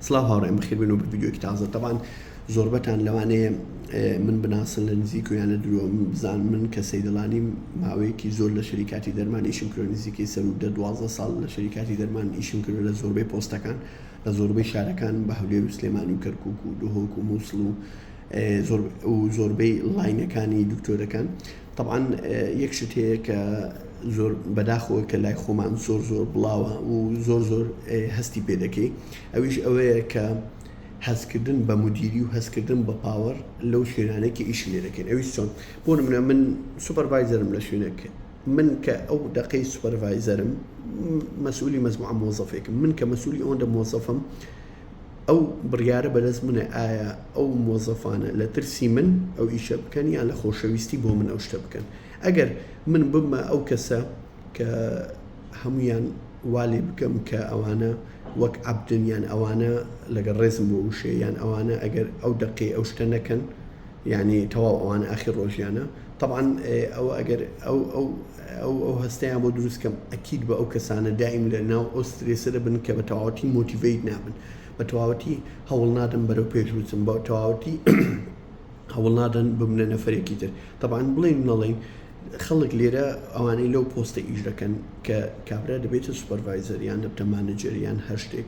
سڵاو هاوڕێیان بەخێر بێنەوە بە ڤیدیۆیەکی تازە تەبان زۆربەتان لەوانەیە من بناسن لە نزیک و یان لە درۆ من بزان من کە سەیدەڵانی ماوەیەکی زۆر لە شەریکاتی دەرمان ئیشم کرۆ نزیکەی سەر و دە دوازدە ساڵ لە شەریکاتی دەرمان ئیشم کرد لە زۆربەی پۆستەکان لە زۆربەی شارەکان بە هەولێر و سلێمانی و کەرکک و دهۆک و مووسڵ و زۆر و زۆربەی لاینەکانی دکتۆرەکان و تەبعەن یەک شت هەیە کە زۆر بەداخەوە کە لای خۆمان زۆر زۆر بڵاوە و زۆر زۆر هەستی پێ دەکەی ئەویش ئەوەیە کە هەستکردن بە مدیری و هەستکردن بە پاوەەر لەو شوێنانێکی ئیش لێ دەکەین ئەوی چۆن بۆ منە من سوپەرڤایزەرم لە شوێنەکە من کە ئەو دقەی سوپەرڤایزەرم مەسئولی مەزموعە مۆزەفێکم من کە مەسولی ئەوەندە مۆزەفم ئەو بڕیارە بەدەست منە ئایا ئەو مۆزەفانە لە ترسی من ئەو ئیشە بکەن یان لە خۆشەویستی بۆ من ئەو شتە بکەن ئەگەر من بمە ئەو کەسە کە هەمویان والێ بکەم کە ئەوانە وەک عەبدن یان ئەوانە لەگەڵ ڕێزم بۆ وشەیە یان ئەوانە ئەگەر ئەو دەقەی ئەو شتە نەکەن یانی تەواو ئەوانە ئاخیر ڕۆژیانە تەبعەن ئەوە ئەگەر ئەو ئەو ئەو ئەو هەستەیان بۆ دروست کەم ئەکید بە ئەو کەسانە دایم لە ناو ئەو سترێسە دەبن کە بە تەواوەتی مۆتیڤیت نابن بە تەواوەتی هەوڵ نادەن بەرەو پێش بچن بە تەواوەتی هەوڵ نادەن ببنە نەفرێکی تر تەبان بڵێن نەڵێن خەڵک لێرە ئەوانەی لەو پۆستە ئیش دەکەن کە کابرا دەبێتە سوپەرڤایزەر یان دەبتە مانەجەر یان هەر شتێک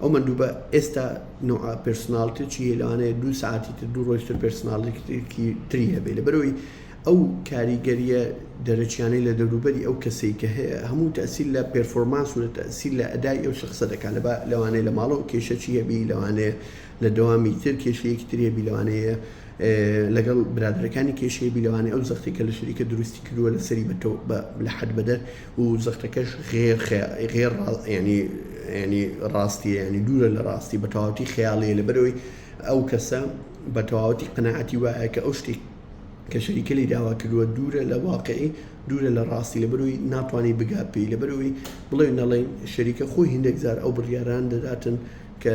ئەو مەندوبە ئێستا نوعە پێرسناڵتێکی هەیە لەوانەیە دوو ساعتی تر دوو ڕۆژ تر پێرسناڵێکی تری هەبێ لەبەرەوەی ئەو کاریگەریە دەرەکیانەی لە دەوروبەری ئەو کەسەی کە هەیە هەموو تەسیل لە پێرفۆرمانس و لە تەسیل لە ئەدای ئەو شخصە دەکات لە لەوانەیە لە ماڵەوە کێشەکی هەبی لەوانەیە لە دەوامی تر کێشەیەکی ترێ بی لەوانەیە لەگەڵ برادەکانی کێشەیە بی لەوانەیە ئەو زەختی کە لە شەریکە دروستی کردووە لە سەری بە لە حد بەدەر و زەختەکەش غێر خەیا غێر ڕا یانی یانی ڕاستیە یانی دوورە لە ڕاستی بە تەواوەتی خەیاڵەیە لەبەرەوەی ئەو کەسە بە تەواوەتی قەنەعەتی وایە کە ئەو شتی کە شەریکە لی داوا کردووە دوورە لە واقعی دوورە لە ڕاستی لەبەروی ناتوانانی بگات پێی لەبەروی بڵێ نەڵێن شەریکە خۆی هندێک جار ئەو بڕیاران دەداتن کە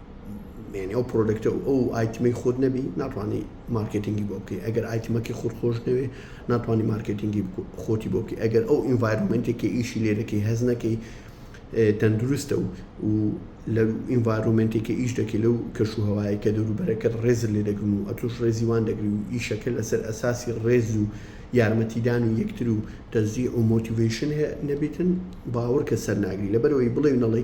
یعنی ئەو پرۆدەکتە و ئەو ئایتمەی خۆت نەبی ناتوانانی مارکتنگی بۆ بکەی ئەگەر ئایتمەکەی خۆت خۆش نەوێ ناتوانانی مارکتنگی خۆتی بۆ بکەی ئەگەر ئەو ئینڤایرمنتێکی ئیشی لێ دەکەی هەز نەکەی تەندروستە و و لە ئینڤایرۆمنتێکی ئیش دەکەی لەو کەش و هەوایە کە دەوروبەرەکەت ڕێز لێ دەگرن و ئەتوش ڕێزیوان دەگری و ئیشەکە لەسەر ئەساسی ڕێز و یارمەتیدان و یەکتر و تەزی و مۆتیڤشن نەبێتن باوەڕکە سەر ناگری لەبەرەوەی بڵێ نەڵی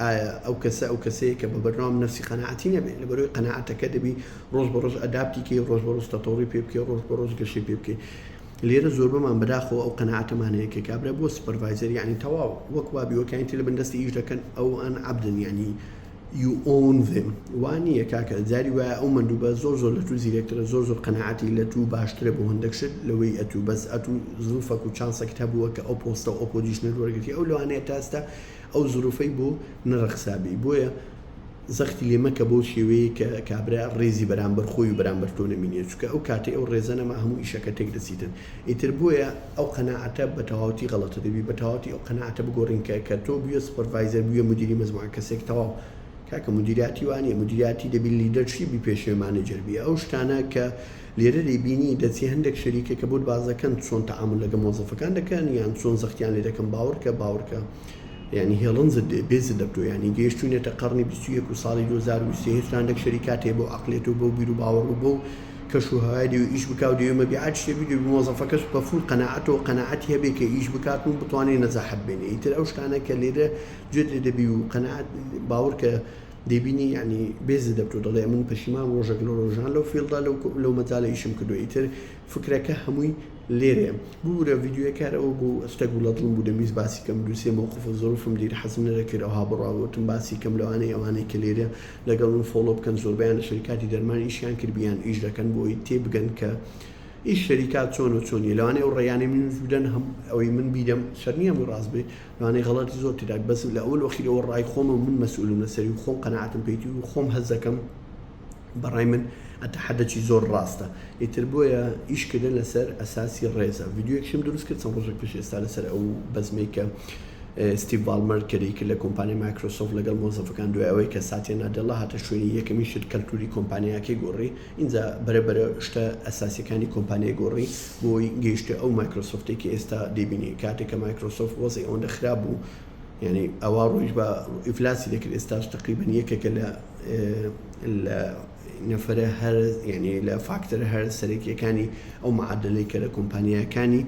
ئایا ئەو کەسە ئەو کەسەیە کە بە بەرنامە نەفسی قەناعەتی نەبێ لەبەرۆی قەناعەتەکە دەبی ڕۆژ بە ڕۆژ ئەدابتی کەی ڕۆژ بە ڕۆژ تەتەوڕی پێ بکەی ڕۆژ بە ڕۆژ گەشەی پێ بکەی لێرە زۆربەمان بەداخەوە ئەو قەناعەتەمان هەیە کە کابرا بۆ سوپەرڤایزەر یعنی تەواو وەک وابی وەکانی تر لە بن دەستی ئیش دەکەن ئەو ئەن عەبدن یعنی you own them وانی یە کاکە جاری وایە ئەو مندوبە زۆر زۆر لە تو زیرەکترە زۆر زۆر قەناعەتی لە تو باشترە بۆ هەندێک شت لەوەی ئەتو بەس ئەتو زڵفەک و چانسەکت هەبووە کە ئەو پۆستە و ئەو پۆزیشنەت وەرگرتی ئەو لەوانەیە تا ئێستا ئەو زروفەی بۆ نەڕەخسابی بۆیە زەختی لێ مەکە بەو شێوەیەی کە کابرا ڕێزی بەرامبەر خۆی و بەرامبەر تۆ نەمینێ چونکە ئەو کاتەی ئەو ڕێزە نەما هەموو ئیشەکە تێک دەچیتن ئیتر بۆیە ئەو قەناعەتە بە تەواوەتی غەڵەتە دەبی بە تەواوەتی ئەو قەناعەتە بگۆڕین کە کە تۆ بویە سوپەرڤایزەر بویە مودیری مەجموعە کەسێک تەواو کاکە مودیریاتی وانیە مودیریاتی دەبی لیدەرشیبی پێشێ مانەجەر بی ئەو شتانە کە لێرە لێبینی دەچێ هەندێک شەریکە کە بۆت باس دەکەن چۆن تەعامول لەگە مۆزەفەکان دەکەن یان چۆن زەختیان لێ دەکەن باوڕکە باوڕکە یانی هێڵنجت لێ بێزت لە بتۆ یانی گەیشتوینەتە قەڕنی بیست و یەک و ساڵی دوو هەزار و بیست و سێ هێشتا هەندێک شەریکات هەیە بەو عەقلیەت و بەو بیر و باوەڕ و بەو کەش و هەوای دەوێ ئیش بکا و دەوێ مەبیعات شتێ بیگرێ مۆزەفەکەش بە فول قەناعەتەوە قەناعەتی هەبێ کە ئیش بکات و بتوانێ نەجاحەت بێنێ ئیتر ئەو شتانە کە لێرە جوێت لێ دەبی و قەناعەت باوڕکە دەیبینی یەعنی بێزت دەبت و دەڵێ ئەمن پەشیمانم ڕۆژەک لە ڕۆژان لەو فیڵدە لەو لەو مەجالە ئیشم کردوە ئیتر فکرەکە هەمووی لێرەیە ببورە ڤیدیۆیە کار ئەوە بوو ئەستە گوڵە دڵم بوو دەمویست باسی کەم دوو سێ مەوقف و زەروفم دیر حەزم نەدەکرد ئەوها بڕا گوتم باسی کەم لەوانەیە ئەوانەی کە لێرە لەگەڵ من فۆڵۆ بکەن زۆربەیان لە شەریکاتی دەرمان ئیشیان کرد بیان ئیش دەکەن بۆ ئەوەی تێ بگەن کە ئیش شەریکات چۆن و چۆن نیە لەوانەیە ئەو ڕێیانەی منیش بدەن هەم ئەوەی من بیدەم شەر نییە هەمووی ڕاست بێ لەوانەیە غەڵەتی زۆر تێدا بێت بەس لە ئەول وەخیرەوە ڕای خۆمە من مەسئولم لەسەری و خۆم قەناعەتم پێیتی و خۆم هەز دەکەم بەڕای من ئەتەحەدەکی زۆر ڕاستە ئیتر بۆیە ئیشکردن لەسەر ئەساسی ڕێزە ڤیددیوەکیشم دروست کرد چەند ڕۆژێک پێش ئێستا لەسەر ئەو بەزمەی کە ستیڤ بالمەر کەری کرد لە کۆمپانی مایکرۆسۆف لەگەڵ مۆزەفەکان دوای ئەوەی کە ساتیە نادێڵا هاتە شوێنی یەکەمی شت کەلتوری کۆمپانیاکەی گۆڕی ئینجا بەرە بەرە شتە ئەساسیەکانی کۆمپانیای گۆڕی بۆی گەیشتە ئەو مایکرۆسۆفتەی کە ئێستا دەیبینی کاتێک کە مایکرۆسۆفت وەزعی ئەوەندە خراپ بوو یعنی ئەوا ڕۆیش بە ئیفلاسی دەکرد ئێستاش تقریبا یەکێکە لە لە نەفرە هەر یعنی لە فاکتەر هەر سەرەکیەکانی ئەو معادلەی کە لە کۆمپانیاکانی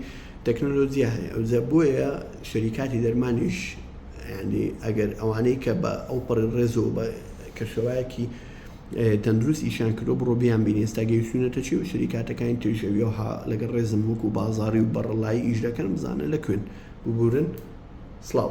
تەکنۆلۆجییا هەیە ئەوجە بۆیە شەریکاتی دەرمانیش ینی ئەگەر ئەوانەی کە بە ئەو پڕی ڕێزەوە بە کەشوایەکی تەندروست ئیشیان کردوە بڕۆ بیان بینی ئێستا گەیشتونەتە چی و شریکاتەکانی تریش ئەویەوە ها لەگەڵ ڕێزم وەکو بازاری و بەڕەڵایی ئیش دەکەن بزانە لەکوێن ببورن سڵاو.